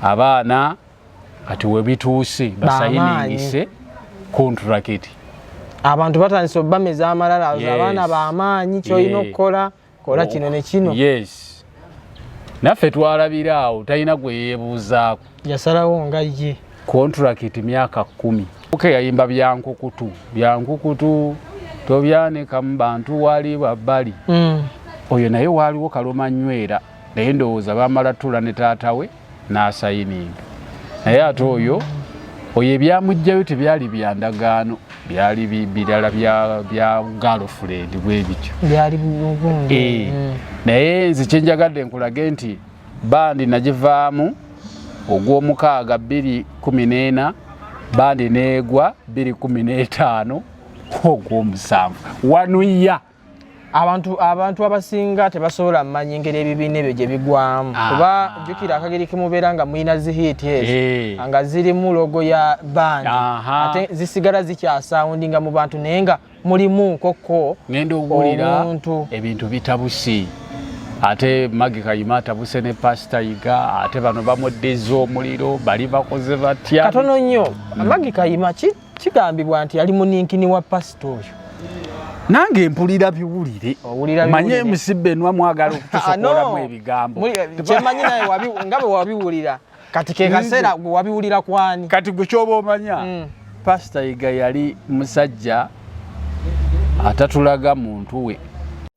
abaana kati webituuse basayiningise kontrakiti abantu batandise obameza amalala abaana bamaanyi kyolina okukola kola kino nekino yes naffe twalabira awo talina gweyebuuzaako yasalawo nga ye kontrakiti myaka kumi oke yayimba byankukutu byankukutu tobyanikamu bantu wali babbali mm. oyo naye waaliwo kaloma nywera naye ndowooza bamala tula ne taata we n'asayininga naye ate oyo oyo ebyamugjayo tebyali byandagaano byali birala bya galfred bwebityo eh, mm. naye nze kyenjagadde nkulage nti bandi nagivaamu ogw'omukaaga 214 bandi neegwa 215 ogw'omusanvu wanuya abantu abantu abasinga tebasobola manyi ngeri ebibiina ebyo gye bigwamu ah. kuba jjukira akageri kimubeera nga mulina zihiiti ezo eh. nga zirimu logo ya bandi ate zisigala zikyasawundinga mu bantu naye nga mulimu nkokko ngenda owulira ebintu bitabusi ate magi kayima atabuse ne pasita yiga ate bano bamuddiza omuliro bali bakoze batya katono nnyo magi kayima ki kigambibwa nti yali muninkini wa pasita oyo nange mpulira biwulire manye emusibbe enwa mwagala okutusokolamu ah, ebigambo kyemanyi naye nga bwe wabiwulira kati kekaseera gwe wabiwulira kwani kati gwe kyoba omanya mm. pasita yiga yali musajja atatulaga muntu we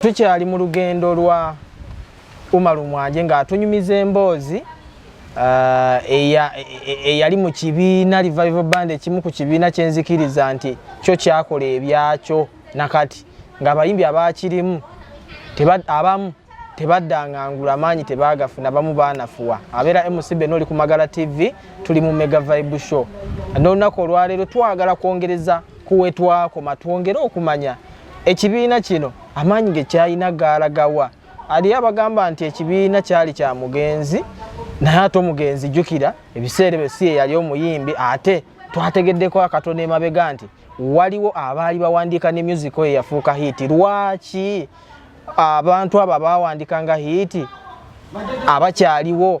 Tukyali mu lugendo lwa Umaru Mwanje ng'atunyumiza emboozi uh, e, e, eyali mu kibiina Revival Band ekimu ku kibiina kyenzikiriza nti kyo kyakola ebyakyo nakati ng'abayimbi abaakirimu abamu tebaddangangula maanyi tebagafuna bamu baanafuwa abeera mcb nooli ku magala tv tuli mu mega vibe show n'olunaku olwaleero twagala kwongereza kuwetwakoma twongere okumanya ekibiina kino amaanyi ge kyalina gaalagawa aliyo abagamba nti ekibiina kyali kya mugenzi naye ate omugenzi jjukira ebiseera ebyo si eyali omuyimbi ate twategeddeko akatono emabega nti waliwo abaali bawandiika ne music oyo yafuuka hiiti lwaki abantu abo abawandika nga hiiti abakyaliwo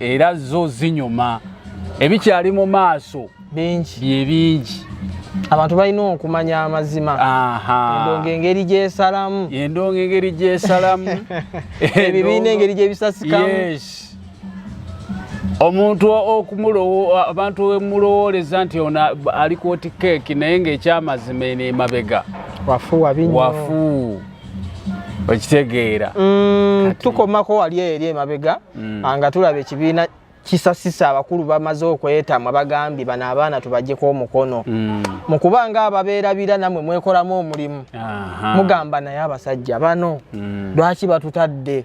era zo zinyuma ebikyali mu maaso bingi bye bingi abantu balina okumanya amazima endonga engeri gyesalamu endonga engeri gyesalamu ebibiina engeri gyebisasikamu omuntu abantu wemulowooleza nti ono ali kwoti keeki naye ngaekyamazima eno emabega wafu okitegeera mm, tukomako wali eri emabega mm. ah, nga tulaba ekibiina kisasisa abakulu bamaze okwetamwa bagambye bano abaana tubajeko omukono mm. mu kubanga ababeerabira namwe mwekolamu omulimu mugamba naye abasajja bano lwaki batutadde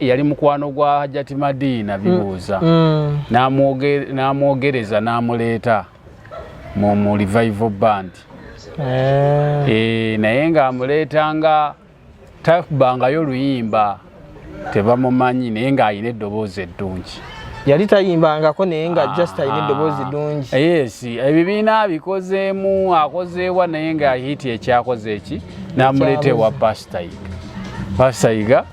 yali mukwano gwa hajjati madiina mm. bibuuza mm. n'amwogereza n'amuleeta mu mu revival band eh. Eh, naye ng'amuleeta nga tabangayo luyimba tebamumanyi naye ng'alina eddoboozi eddungi yali tayimbangako naye nga ah. just alina eddoboozi ddungi eh, yes ebibiina abikozeemu akozeewa naye nga hiti ekyakoze eki n'amuleeta ewa pasita yiga pasita yiga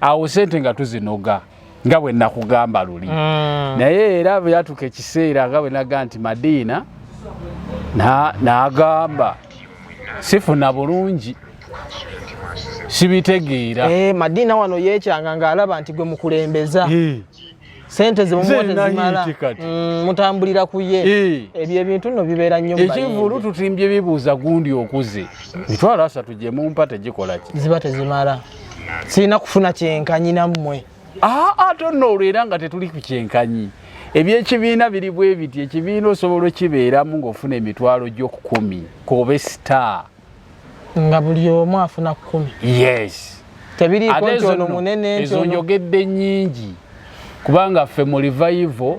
awo sente nga tuzinoga nga bwe nakugamba luli mm. naye era bwe yatuuka ekiseera nga bwe naga nti madiina nagamba na sifuna bulungi sibitegeera eh, madiina wano yekyanga ng'alaba nti gwe mukulembeza eh. sente zimumuwa tezimala mm, mutambulira ku ye eh. ebyo ebintu nno bibeera nnyo ekivulu tutimbye bibuuza gundi okuze mitwalo asatu gye mumpa tegikola ki ziba tezimala sirina kufuna kyenkanyi nammwe aa ah, ate ah, nno olwo era nga tetuli ku kyenkanyi ebyekibiina biri bwe biti ekibiina osobola okibeeramu ng'ofuna emitwalo gy'okukumi kobe star nga buli omu afuna kumi yes tebiriiko nti ono munene ezo njogedde nyingi kubanga ffe mu revival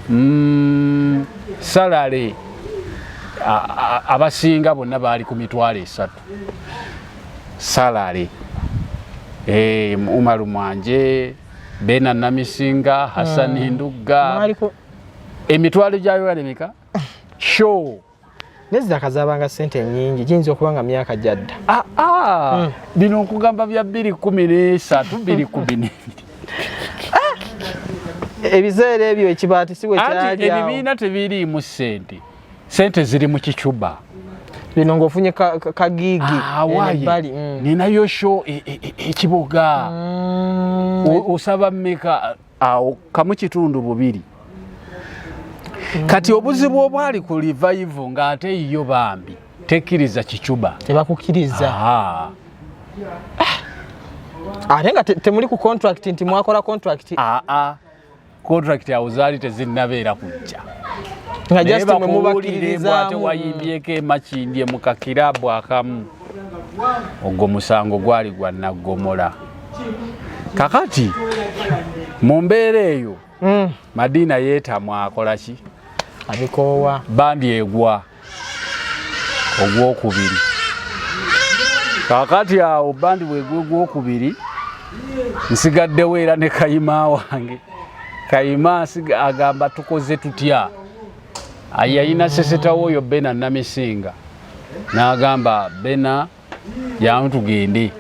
mm, salale abasinga bonna baali ku mitwalo esatu salale e, umaru mwanje bena namisinga hasani hmm. ndugga emitwalo gyayo alemeka show nezidaka zabanga sente nyingi giyinza okuba nga myaka gyadda ah, ah. Hmm. bino nkugamba bya bbiri kumi nesatu bbiri kumi nebiri ah. ebiseera ebyo ekibaati si wekyali ebibiina tebiriimu sente sente ziri mu kicuba bino ngaofunye kagiigi ebbali hmm. ninayo sho e, e, e, ekiboga hmm. osaba meka awo kamu kitundu bubiri kati obuzibu obwali ku livayivu ng'ate yo bambi tekkiriza kicuba tebakukkiriza ah. ate nga temuli ku contract nti mwakola contract aa ah, ah. contract awo zaali tezinnabeera kujja nga jastemwemubakiririzaamu tewayimbyeko emakindye mu kakiraabu akamu ogwo musango gwali gwa naggomola kakati mu mbeera eyo hmm. madiina yeetamwa akola ki abikoowa bandi egwa ogwokubiri kakati awo bandi bwegwa ogwokubiri nsigaddewo era ne kayima wange kayima agamba tukoze tutya yalina sisitawo oyo bena namisinga nagamba bena jangu tugende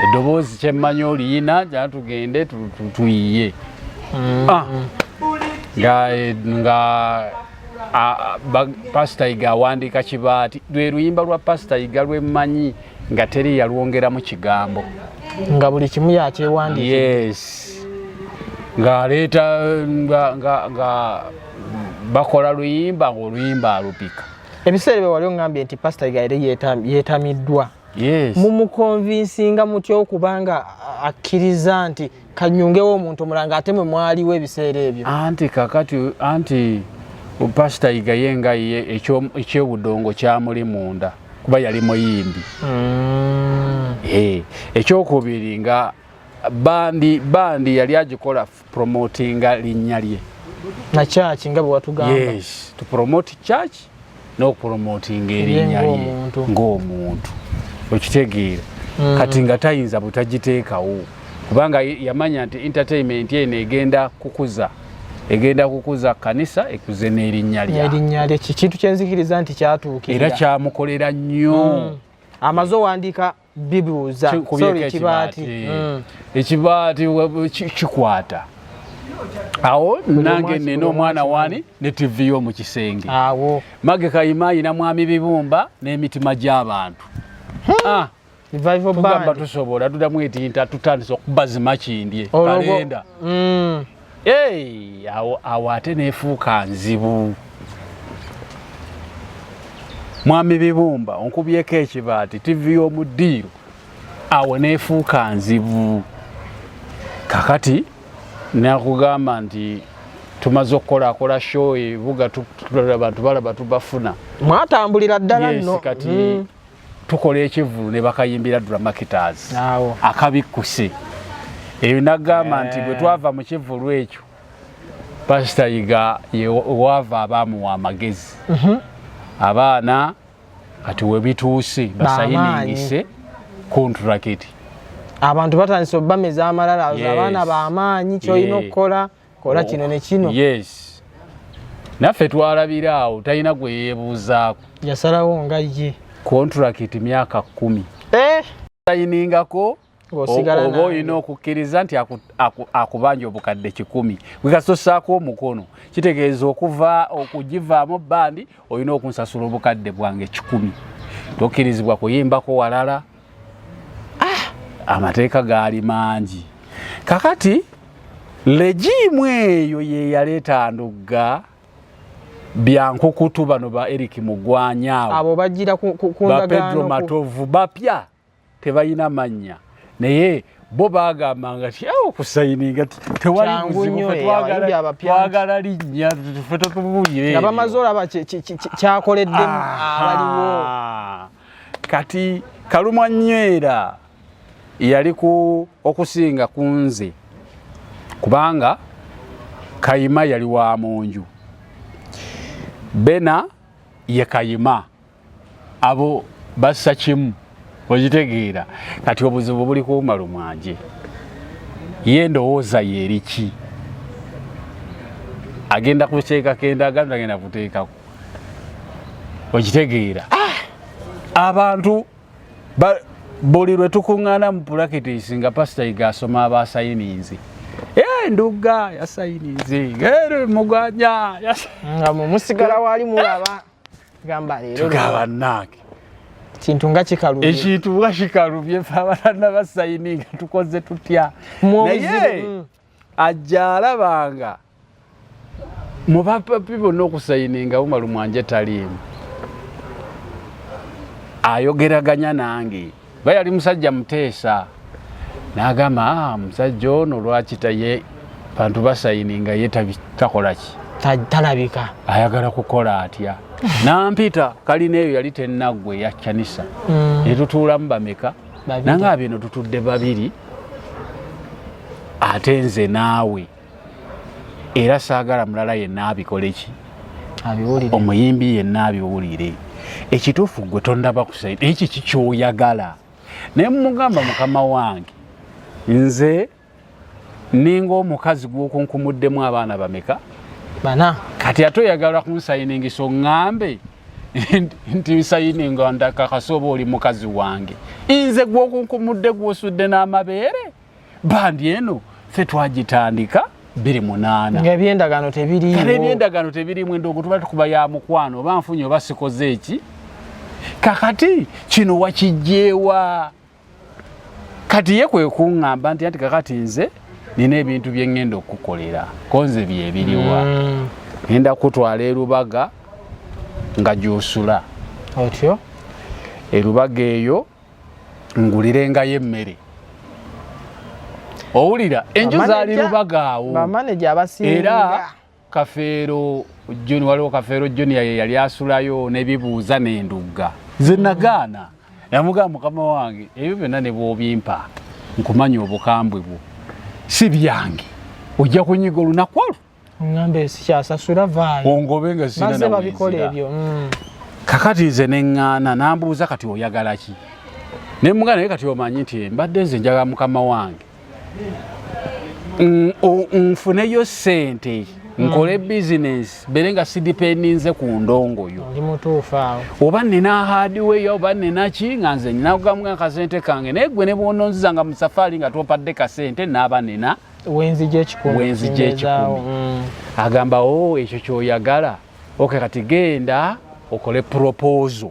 eddoboozi kyemmanyi oliyina jangu tugende tuyiye mm. ah. nga pasita yiga awandiika kibaati lwe luyimba lwa pasita yiga lwemmanyi nga teri yalwongeramu kigambo nga buli kimu yakyewandiika yes ng'aleeta nga bakola luyimba ng'oluyimba alupika ebiseera ebyo wali ongambye nti pasita igaire yeetamiddwa mumukonvinsinga mutya okuba nga akkiriza nti kanyungewo omuntu omulala nga ate mwe mwaliwo ebiseera ebyo anti kakati anti pasita yigaye nga ye ekyobudongo kyamuli munda kuba yali muyimbi mm. eh, ekyokubiri nga bandi bandi yali agikola promotinga linnya lye na church nga bwe watugamba yes to promote church n'okupromotinga erinnya lye ng'omuntu okitegeera mm. kati nga tayinza butagiteekawo kubanga yamanya nti entertainment eno egenda kukuza egenda kukuza kanisa ekuze n'erinnya lye kintu kyenzikiriza nti kyatuukira era kyamukolera nnyo mm. amaze owandiika bibuuza sorry ekibaati hmm. ekibaati kikwata awo nange nina omwana wani ne tv yo mu kisenge awo mage kayima ayina mwami bibumba n'emitima gy'abantu hmm. ah. tugamba tusobola tudamu etinta tutandisa okubazima kindye kalenda hmm. Hey, awo, awo ate nefuuka nzibu mwami bibumba onkubyeko ekibaati tivi y'omu ddiiro awo nefuuka nzibu kakati nakugamba nti tumaze okukolakola show ebuga abantu balaba tubafuna mwatambulira ddala nno kati mm. tukola ekivulu ne bakayimbira dramakitas akabikkuse eyo nagamba nti bwe eh. twava mu kivulu ekyo pasita yiga waava abaamuwa amagezi mhm. abaana kati webituuse basayiningise kontrakiti abantu batandise obameza amalala abaana bamaanyi kyolina okukola kola oh, kino ne kino yes naffe twalabira awo talina gwe yeebuuzaako yasalawo nga ye kontulakiti myaka kumi eh? sayiningako oba olina okukkiriza nti akubanja obukadde kikumi gwekasosaako omukono kitegeeza okuva okugivaamu bandi olina okunsasula obukadde bwange kikumi tokkirizibwa kuyimbako walala ah, amateeka gaali mangi kakati legiimu eyo yeyaleeta ndugga byankukutu bano ba eric mugwanyawo abo bajira bapedro matovu bapya tebalina mannya naye bo bagamba nga ti awo kusayininga tewali buzibutwagala linnya fe totubuyire nga bamaze olaba kyakoleddemu ah. abaliwo kati kalumwa nywera yali ku okusinga kunze kubanga kayima yali wa munju bena ye kayima abo bassa kimu okitegeera kati obuzibu buli kuumalu mwanje ye ndowooza yeeriki agenda kuteekako endagaano agenda kuteekako okitegeera ah! abantu buli lwe tukuŋŋaana mu pulakitisi nga pasita yiga asoma abasayininzi eh, ndugga yasayininzi eh, mugwanya nga mumusigala wali mulaba gamba leero tugaba nange kintu nga kikalubye ekintu nga kikalubye fe abaana basayininga tukoze tutya naye mm. ajja alabanga mu bapapi bonna okusayininga umaru mwanje taliimu ayogeraganya nange ba yali musajja muteesa nagamba ah, musajja ono lwaki taye bantu basayininga ye takolaki talabika ayagala kukola atya nampita kalina eyo yali tenaggwe yakyanisa mm. netutuulamu bameka nange abino tutudde babiri ate nze naawe era saagala mulala yenna abikole ki omuyimbi yenna abiwulire ekituufu gwe tondaba kusaidi ekyo kikyoyagala naye mumugamba mukama wange nze ninga omukazi gwokunkumuddemu abaana bameka bana kati ate oyagala kunsayiningiso ŋambe nti nsayininga ndakakasa oba oli mukazi wange nze gwokunkumudde gwosudde n'amabeere bandi eno fe twagitandika biri munaana ebyendagaano tebiriiebyendagaano tebirimu enda ogutuba tukuba ya mukwano oba nfunye oba sikoze eki kakati kino wakijjeewa kati ye kwe kuŋŋamba nti anti kakati nze nina ebintu bye ŋŋenda okukukolera konze byebiriwa mm. ŋenda kutwala erubaga nga gyosula otyo erubaga eyo ngulirengayo emmere owulira enju zaali rubaga awo era kafeero juni waliwo kafeero junior ye yali asulayo nebibuuza nendugga nze nagaana namugamba mukama wange ebyo byonna ne bwobimpa nkumanya obukambwe bwo si byange ojja kunyiga olunaku olwo ngambe sikyasasula vaayo ongobe nga sinamaze babikola ebyo mm. kakati nze neŋŋaana nambuuza kati oyagala ki ne mugana naye kati omanyi nti mbadde nze njagala mukama wange nfuneyo sente nkole mm. bizinesi bere nga sidipendinze ku ndongo yo oba nina hadiweya oba ninaki nga nze ninakugamu akasente kange naye gwe nebwononziza nga musafaari nga twompadde kasente naaba nina wenzija ekikumi mm. agamba o oh, ekyo kyoyagala oke kati genda okole propozo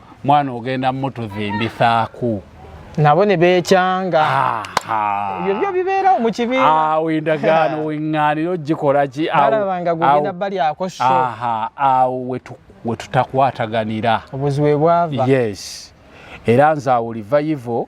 mwana ogenda mutuzimbisaaku nabo ne beekyanga ebyo byo bibeerawo mu kibiina awo endagaano weŋŋaaniro gikola ki alaba nga gugenda bali ako so awo we tutakwataganira obuzibu bwava yes era nze awo livayivo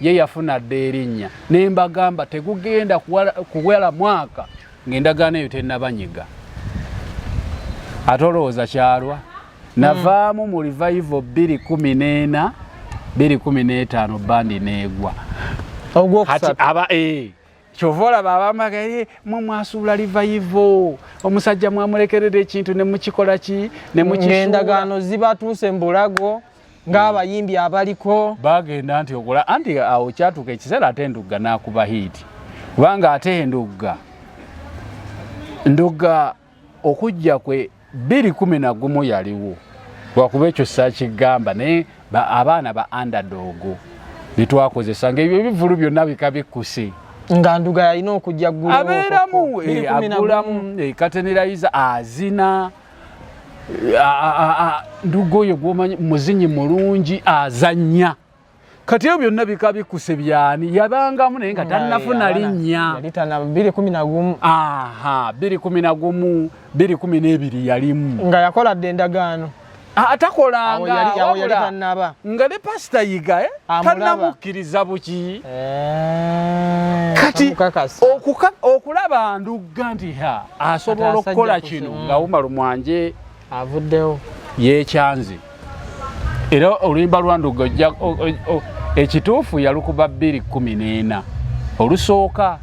ye yafuna dda erinnya ne mbagamba tegugenda kuwela mwaka ng'endagaano eyo tennabanyiga ate olowooza kyalwa navaamu mu revival bbiri kumi n'ena bbiri kumi n'etaano bandi neegwa ogwokusaba eh, kyova olaba abamagaye mwe mwasuula revival omusajja mwamulekerera ekintu ne mukikola ki ne mukisuula endagaano zibatuuse mu bulago ng'abayimbi abaliko bagenda nti okola anti awo kyatuuka ekiseera ate ndugga n'akuba hiiti kubanga ate endugga ndugga okujja kwe bbiri kumi na gumu yaliwo lwakuba ekyo sakigamba naye abaana ba andadoogo byetwakozesa ngaebyo ebivulu byonna bika bikkuse nga nduga yalina okujja gulamu eh, agulamu eh, katenerayiza azina nduga oyo gwomanyi muzinyi mulungi azanya kati ebyo byonna bika bikuse byani yabangamu naye nga tannafuna linnya biri kumi nagumu biri kumi n'ebiri yalimu nga yakola dde endagaano atakolanga nga ne pasita yiga eh? tanamukkiriza buki eh, kati okulaba ndugga nti ha asobola okukola kino nga umar mwanje avuddewo yekyanze era oluyimba lwanduga ekituufu yalukuba bbiri kumi n'ena olusooka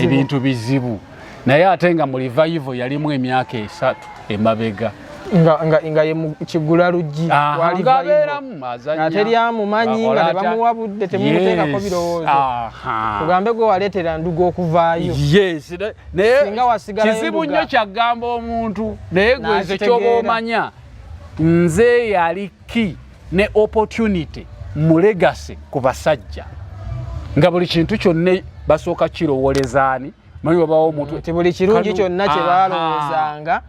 ebintu bizibu naye ate nga mu livayivo yalimu emyaka esatu emabega nga nga nga ye kigula luggi wali vayo nga teri amumanyi nga ne bamuwa budde temuteekako birowoozo tugambe gwe waleetera ndugu okuvaayo singa wasigalayo kizibu nnyo kyagamba omuntu naye gwe nze kyoba omanya nze yali ki ne opportunity mu legacy ku basajja nga buli kintu kyonna basooka kirowolezaani manyi wabaawo omuntu nti buli kirungi kyonna kye baalowozanga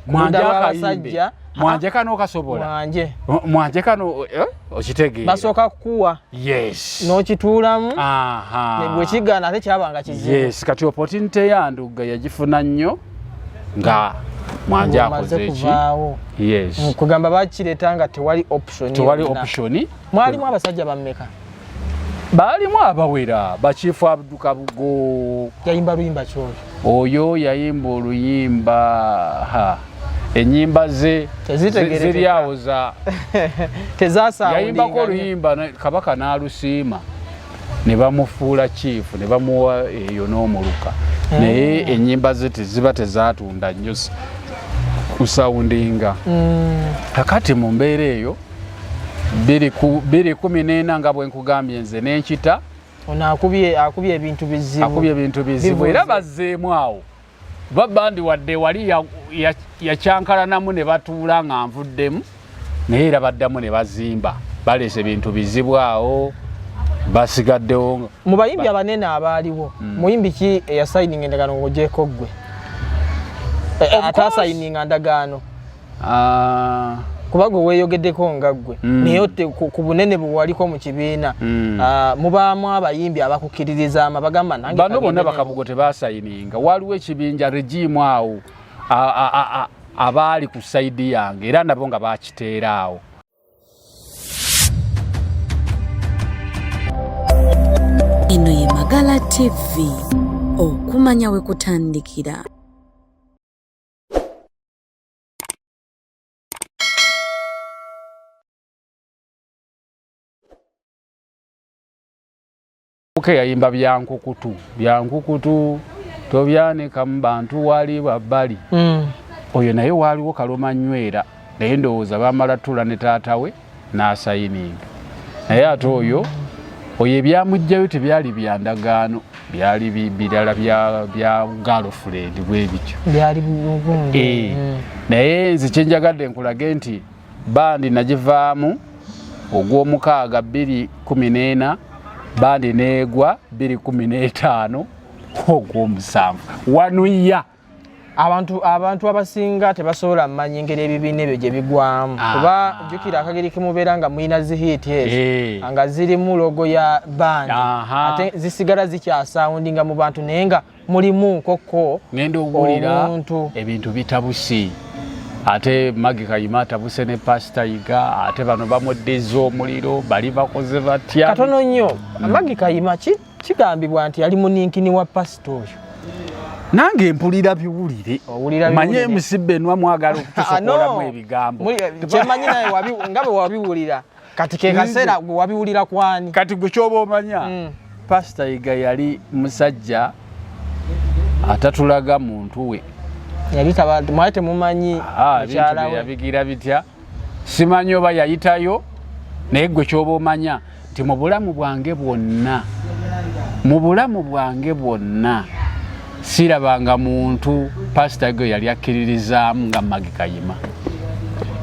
mwanjakayimbe mwanje kano kasobola mwanje mwanje kano eh, okitegeera basooka kukuwa yes n'okituulamu bwe kigaana ate kyabanga kizibu yes kati opportunity yandugga yagifuna nnyo nga mwanje akoze eki yes kugamba bakireeta nga tewali option tewali option mwalimu abasajja bammeka baalimu abawera bakiifu abduka bugo yayimba luyimba kyoli oyo yayimba oluyimba ha enyimba ze ziri awo za tezasayayimbako oluyimba kabaka n'alusiima ne bamufuula kiifu ne bamuwa eyo n'omuluka hmm. naye enyimba ze teziba tezatunda nnyo kusawundinga hmm. kakati mu mbeera eyo biri kumi nena nga bwenkugambye nze nenkita akubye ebintu bizibu era bazeemu awo babandi wadde wali yakyankalanamu ne batuula nga nvuddemu naye era baddamu ne bazimba baleese bintu bizibu awo basigaddewo mu bayimbi abanene abaaliwo hmm. muyimbi ki eyasayininga endagaano ng'ogyeko ggwe eh, eh, ataasayininga ndagaano ah. kuba gwe weeyogeddeko nga ggwe mm. naye ku bunene bwe waliko mu kibiina mm. ah, mubaamu abayimbi abakukkiririzaama bagamba nangebano bonna bakabugo tebaasayininga waliwo ekibinja regiimu awo abaali ku sayidi yange era nabo nga bakiteera awo eno ye magala tv okumanya we kutandikira Mpuke yayimba byankukutu byankukutu tobyanika mu bantu wali babbali mm. oyo naye waaliwo kaloma nywera naye ndowooza bamala tula ne taata we n'asayininga naye ate oyo oyo ebyamugjayo tebyali byandagaano byali birala bya galfred bwebityo eh, mm. naye nze kyenjagadde nkulage nti bandi nagivaamu ogw'omukaaga 214 bandi neegwa 215 ogw'omusanvu wanuya abantu abantu abasinga tebasobola manyi ngeri ebibiina ebyo gye bigwamu ah. kuba jjukira akageri kemubeera nga mulina zihiiti ezo eh. nga zirimu logo ya bandi ate zisigala zikyasawundinga mu bantu naye nga mulimu nkokko ngenda owulira ebintu bitabusi ate magi kayima atabuse ne pasita yiga ate bano bamuddiza omuliro bali bakoze batya katono nnyo magi kayima ki kigambibwa nti yali muninkini wa pasita oyo nange mpulira biwulire manye emusibe enwa mwagala okutusokolamu ah, ebigambo kyemanyi naye nga bwe wabiwulira kati kekaseera gwe wabiwulira kwani kati gwe kyoba omanya hmm. pasita yiga yali musajja atatulaga muntu we yali mwali temumanyi ah, yabigira bitya simanyi oba yayitayo naye gwe kyoba omanya nti mu bulamu bwange bwonna mu bulamu bwange bwonna sirabanga muntu pasita gwe yali akkiririzaamu nga magi kayima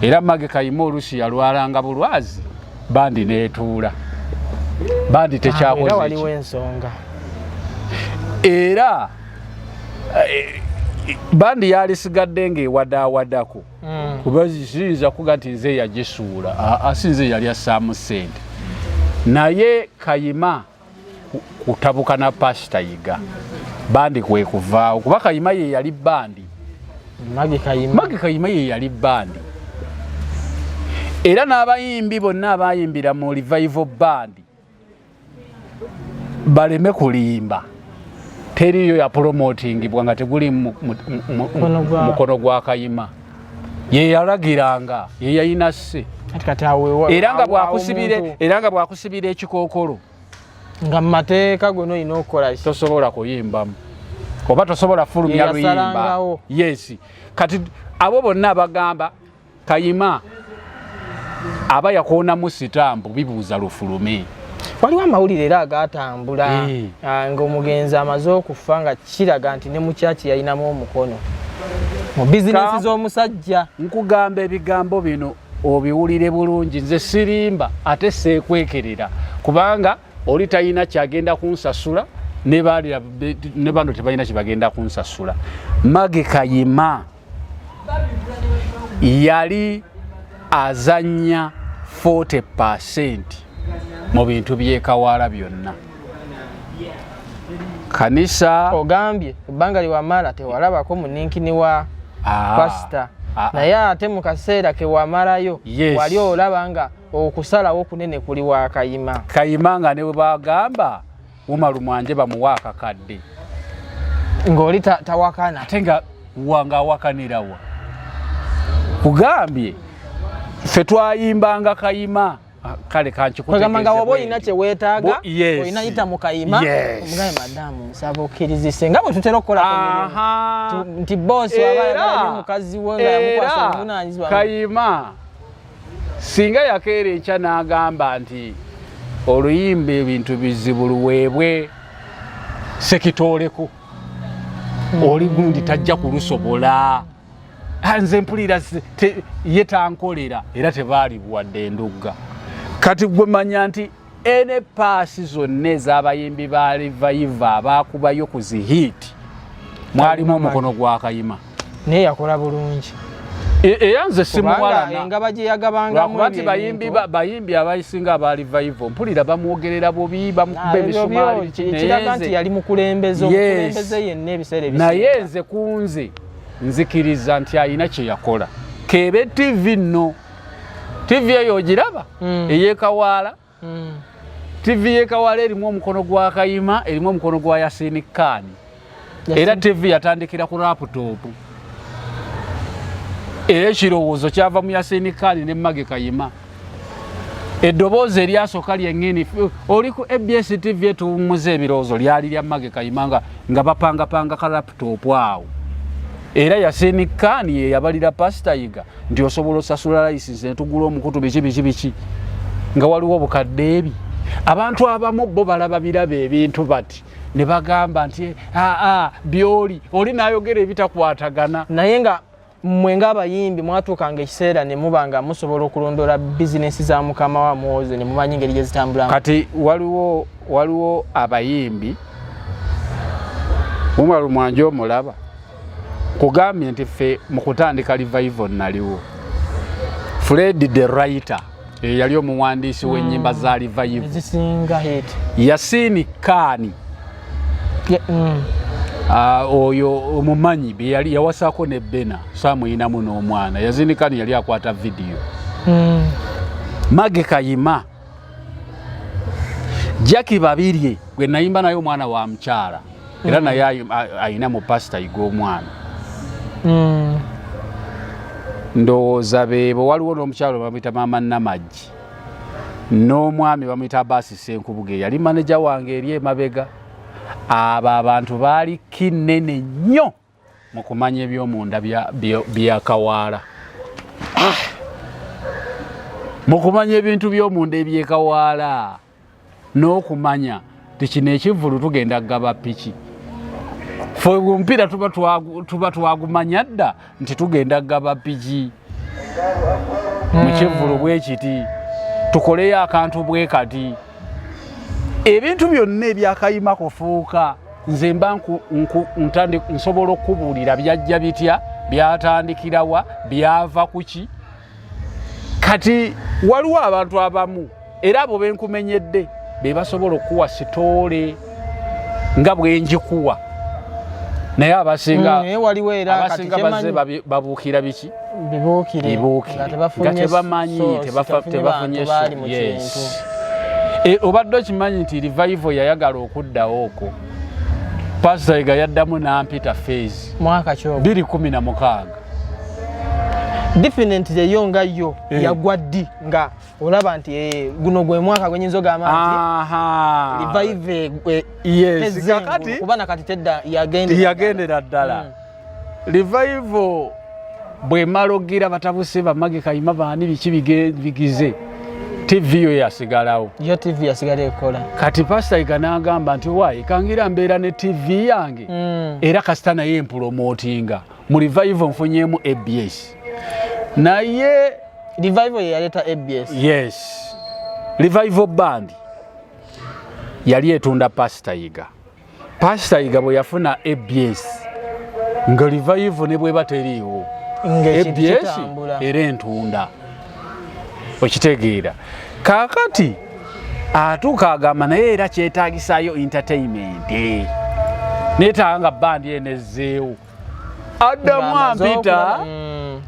era magi kayima oluusi yalwalanga bulwazi bandi neetuula bandi ah, tekyakozeera era eh, bandi yalisigadde ngaewadaawadaku mm. kuba ziyinza kuga nti nze yagisuula asi nze yali assaamu ssente naye kayima kutabuka na pasita yiga bandi kwekuvaawo kuba kayima ye yali bandi magi kayima ye yali bandi era n'abayimbi bonna abayimbira mu revival bandi baleme kulimba teriyo yapulomotingibwa nga teguli mukono gwa kayima yeyalagiranga yeyalina se era nga bwakusibira era nga bwakusibira ekikokolo nga mumateeka gwe noyina okukola tosobola kuyimbamu oba tosobola fulumya luyimba yes kati abo bonna abagamba kayima aba yakoonamu sitampu bibuuza lufulume waliwo amawulire era agaatambula eh. ah, ng'omugenzi amaze okufa nga kiraga nti ne mukyaki yalinamu omukono mu bizinesi z'omusajja nkugamba ebigambo bino obiwulire bulungi nze sirimba ate seekwekerera kubanga oli talina kyagenda kunsasula ne bano tebalina kyebagenda kunsasula mage kayima yali azanya 40 percent mu bintu byekawaala byonna kanisa ogambye ebbanga liwamala tewalabako muninkini wa ah. pasita ah, ah. naye ate mu kaseera kewamalayo wali olaba nga okusalawo kunene kuli wa kayima kayima nga ne bwe bagamba umaru mwanje bamuwa akakadde ng'oli tawakana ate nga wanga awakanirawa kugambye ffe twayimbanga kayima ah, kale kankikugamanga waba olina kyewetaaga olina yita mu kayima omugaye madamu nsaba okkirizise nga bwe tutera okukola nti boosi waba mukazi we nga yamukwasa obuvunanyizibwa kayima singa yakeera ekya n'agamba nti oluyimba ebintu bizibu luweebwe sekitooleko hmm. oli gundi tajja kulusobola ah, nze mpulira ye tankolera era tebaalibuwadde endugga kati gwe manya nti ene paasi zonna ez'abayimbi ba livayiva abaakubayo ku zihiiti mwalimu omukono gwa kayima naye yakola bulungi era nze simuwalanengaba gye yagabangakuba nti bayimbi bayimbi abayisinga abaali vaivo mpulira bamwogerera bubi bamukuba ebisumalikiraga nti yali mukulembeze omukulembeze yenna ebiseera ebis naye nze kunze nzikiriza nti alina kye yakola kebe tv nno tivi eyo ogiraba mm. eyekawaala mm. tivi yekawaala erimu omukono gwa kayima erimu omukono gwa yasini kaani era tivi yatandikira ku laputopu era ekirowoozo kyava mu yasini kaani ne mage kayima eddoboozi eryasooka lyeŋini oli ku abs tv etuwummuza ebirowoozo lyali lya mage kayima nga bapangapanga kalap laptop awo era yasenikani yeyabalira pasita yiga nti osobola osasula layisinsi netugula omukutu biki biki biki nga waliwo obukadde ebi abantu abamu bo balaba biraba ebintu bati ne bagamba nti aa byoli oli nayogera ebitakwatagana naye nga mmwe ng'abayimbi mwatuukanga ekiseera ne muba nga musobola okulondoola bizinensi za mukama wa mwoze ne mumanya engeri gye zitambulamu kati waliwo waliwo abayimbi umaru mwanje omulaba kugambye nti ffe mu kutandika livaivo naliwo fredi the writer eyali eh, omuwandiisi w'ennyimba mm. za livayivuzisinga yasiini kaani mm. ah, oyo omumanyi beyali yawasako ne bena samuyinamu n'omwana yazini kaani yali akwata vidiyo mm. mage kayima jaki babirye gwe nayimba naye omwana wa mukyala era mm. naye ayina mu pasita yiga omwana mm. ndowooza beebo waliwo n'omukyalo bamuyita maama namagi n'omwami bamuyita abaasi senkubuga eyali maneja wange eri emabega abo abantu baali kinene nnyo mu kumanya eby'omunda bya kawaala ah! mu kumanya ebintu by'omunda ebyekawaala n'okumanya tikino ekivvulu tugenda kugaba piki fe omupiira tuba twagumanya dda nti tugenda kugaba piki mu hmm. kivvulu bwe kiti tukoleyo akantu bwe kati ebintu byonna ebyakayima kufuuka nze mba nsobola okubuulira byajja bitya byatandikirawa byava kuki kati waliwo abantu abamu era abo benkumenyedde be basobola okukuwa sitoole nga bwenjikuwa naye abasinga mm, babuukira biki bibuukire nga tebamanyi tebafunye eh, obadde okimanyi nti revival yayagala okuddawo okwo pasita ega yaddamu nampita fees mwaka kyo 216 definite yeyo nga yo eh. yagwa ddi nga olaba nti eh, guno gwe mwaka gwenyinza ogamba nti kakati tedda yagendera ddala mm. Revival bwemala okugira batabuse bamage kayima baani biki bigize tv yo yasigalawo yo tv yasigala ekola kati pasita iga n'agamba nti wayi kangira mbeera ne tv yange mm. era kasita naye mpulomotinga mu revival nfunyemu abs naye revival yeyaleeta abs yes revival band yali etunda pasita iga Pastor Yiga bwe yafuna ABS nga revive ne bweba teriiwo ABS era entunda okitegeera kakati atuuka agamba naye era kyetagisayo entertainment netanga bandi enezzeewo addamu ampita mm,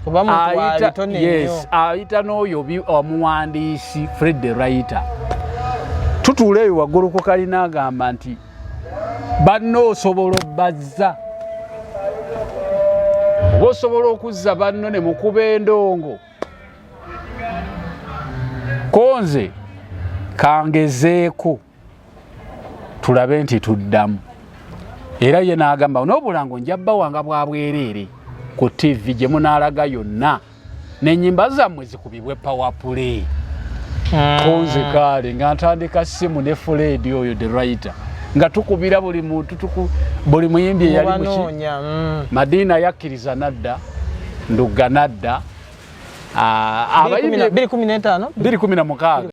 ayita n'oyo omuwandiisi fred the writer tutuula eyo waggulu ku kalina agamba nti banna osobola obbazza oba osobola okuzza banno ne mukuba endongo konze kangezeeko tulabe nti tuddamu era ye n'agamba n'obulango nja bawanga bwa bwereere ku ttivi gye munaalaga yonna n'ennyimba zammwe zikubibwe pawapule hmm. kunze kaale nga ntandika simu ne fuleedi oyo the writer nga tukubira buli muntu buli muyimbi eyali muki hmm. madiina yakkiriza nadda ndugga nadda 216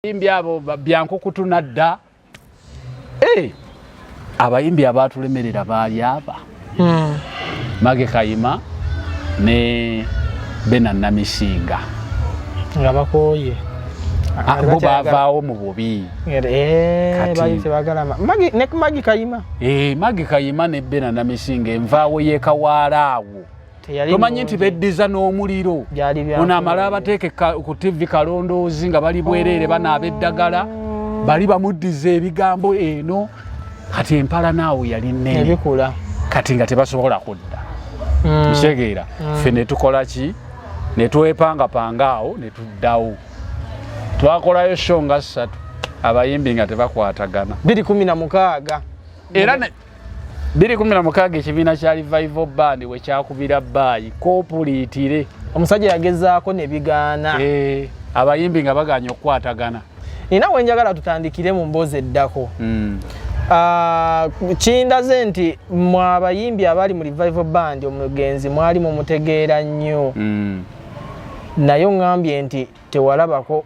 abayimbi abo byankukutuna dda eh, abayimbi abaatulemerera baali aba hmm. mage kayima ne bena namisinga nga bakooye ah, bo bavaawo mu bubi magi kayima ne bena namisinga envaawo yekawaala awo tomanyi nti beddiza n'omuliro ono amala abateeke ku tivi kalondoozi nga bali bwereere oh. banaaba eddagala bali bamuddiza ebigambo eno kati empala naawo yali nene kati nga tebasobola kudda hmm. kitegeera hmm. ffe netukola ki netwepangapanga awo netuddawo twakolayo sho nga ssatu abayimbi nga tebakwatagana 216 era 216 ekibiina kya revival band we kyakubira baayi kopuliitire omusajja yagezaako ne bigaana eh, abayimbi nga baganya okukwatagana nina we njagala tutandikire mu mboozi eddako hmm. ah, kindaze nti mu abayimbi abali mu revival band omugenzi mwali mumutegeera nnyo hmm. naye oŋambye nti tewalabako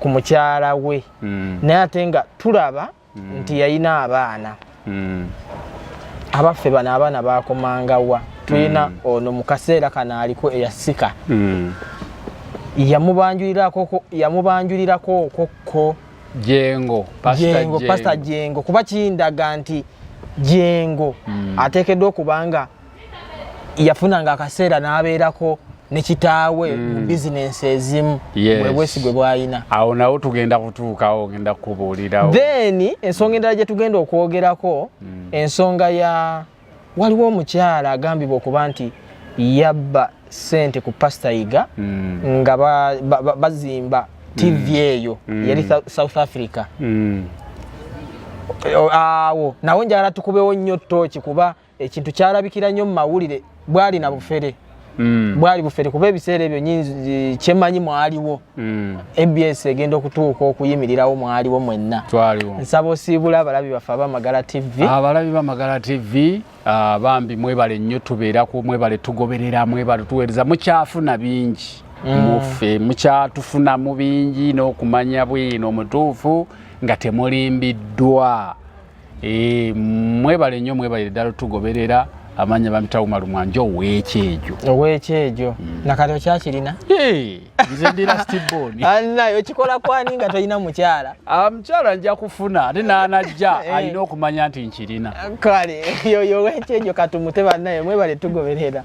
ku mukyala we hmm. naye ate nga tulaba mm. mm. nti yalina abaana mm. abaffe bano abaana bakomangawa tulina mm. ono mu kaseera kano aliko eyasika mm. yamubanjulirako okokko jengo pasita jengo kuba kindaga nti jengo mm. ateekeddwa okubanga yafunanga akaseera n'abeerako ne kitaawe mu mm. bizinensi ezimu bwe bwesigwe bwalina awo nawo tugenda kutuukawo ogenda kukubuulirawo then ensonga endala gye tugenda okwogerako mm. ensonga ya waliwo omukyala agambibwa okuba nti yabba sente ku pasita yiga mm. nga bazimba tv eyo yali south africa awo nawo njagala tukubewo nnyo tooki kuba ekintu kyalabikira nnyo mu mawulire bwali na bufere mm. bwali bufere kuba ebiseera ebyo nyinzi kyemanyi mwaliwo mm. abs egenda okutuuka okuyimirirawo mwaliwo mwenna nsaba osiibula abalabi baffe abamagala tv abalabi bamagala tv ah, bambi mwebale nnyo tubeerako mwebale tugoberera mwebale tuweereza mukyafuna bingi mm. muffe mukyatufunamu bingi n'okumanya bwino omutuufu nga temulimbiddwa Eh, mwebale nnyo mwebalire ddala otugoberera amanya bampita umaru mwanje owekyejo owekyejo mm. nakati okyakirina nze ndira stibon anaye okikola kwani nga tolina mukyala ah, mukyala nja kufuna ate nanajja eh. alina okumanya nti nkirina kale yoyo owekyejo katumute banaye mwebale tugoberera